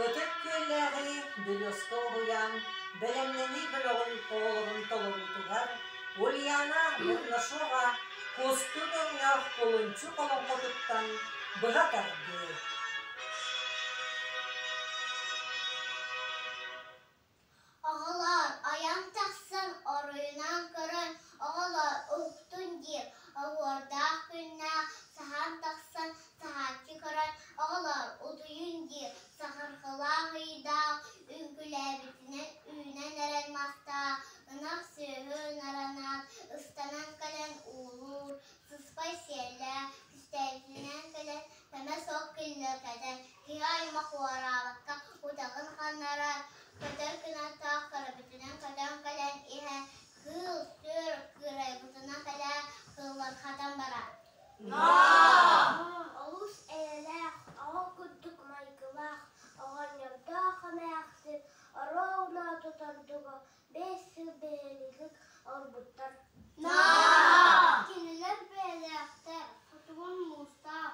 Ытык Күөллээҕи Дьулуска уһуйаан бэлэмнэнии бөлөҕүн оҕолорун толоруутугар Ульяна Горнашова кустуу дьонноох кулунчу олоҥхотуттан быһа тардыы Оҕолоор, ойон тахсан оройунан көрөн оҕолор уһуктун диир оһуордаах күннээх саһан тахсан саһааччы көрөн оҕолор утуйун диир саһарҕалаах ыйдаах үҥкүүлээбитинэн үүнэн эрэн мастаах ынах сүөһү наранан ыстанан кэлэн уулуур сыспай сиэллээх кистээтинэн кэлэн кэмэ суох киллэргэтэн Кыай мохуораабакка утаҕын ханнарар, көтөр кынаттаах көрөбүтүнэн көтөн кэлэн иһэ, кыыл-сүр кыырайбытынан кэлэ кыллархатан барар. Олус эйэлээх, оҕо курдук майгылаах, оҕонньордоох эмээхсин, ороо унаатытан дуго биэс сыл биһилиги орбуттар. Кинилэр бэйэлээхтэр, хотугун муустаах,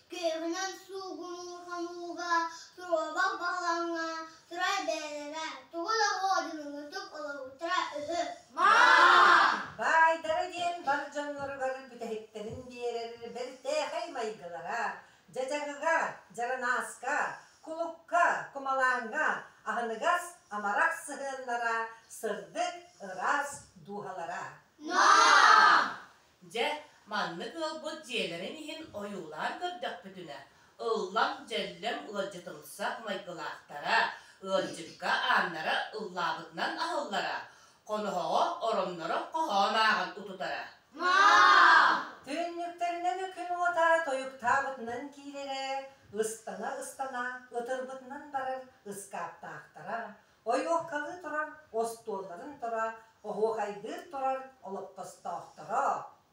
Кыыһынан суугунуу-хонууга, туруоба баһылаҥҥа турар бэйэлэрэ тугу да хоодьунуҥутук олоһуттара үһү. Баайдара диэн бар дьонноругар бүтэһиктэрин биэрэр бэртээхэй майгылара дьадьаҕыга, дьаранааска, кулукка, кумалааҥҥа, аһыныгас, амарах сыһыаннара сырдык, ыраас дууһалара. Дьэ, маннык ыалбыт дьиэлэрин иһин ойуулаан көрдөхпүтүнэ, ыллам-дьэллэм ыалдьытымсах майгылаахтара, ыалдьыкка ааннара ыллаабытынан аһыллара, хоноһоҕо оронноро хоһоон ааҕан утутара. Түннүктэринэн күн уота тойуктаабытынан киирэрэ, ыстана-ыстана ытырбытынан барар ыскааптаахтара, ойуоккалыы турар остуолларын тура оһуокайдыыр турар олоппостоохторо,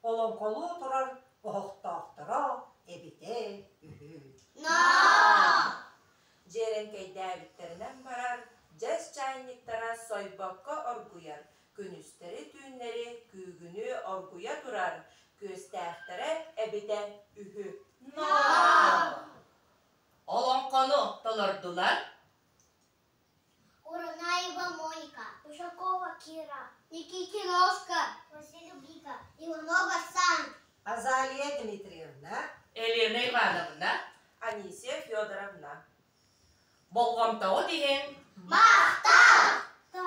олоҥхолуу турар оһохтоохторо эбитэ үһү. Ноо! Дьиэрэҥкэйдээбиттэринэн барар дьэс чаайньыктара сойбокко оргуйар, күнүстэри-түүннэри күүгүнүү оргуйа турар күөстээхтэрэ эбитэ үһү. Ноо! Олоҥхону толордулар? азалия дмитриевна елена ивановна анисия федоровна болҕомтоҕут иһин махтал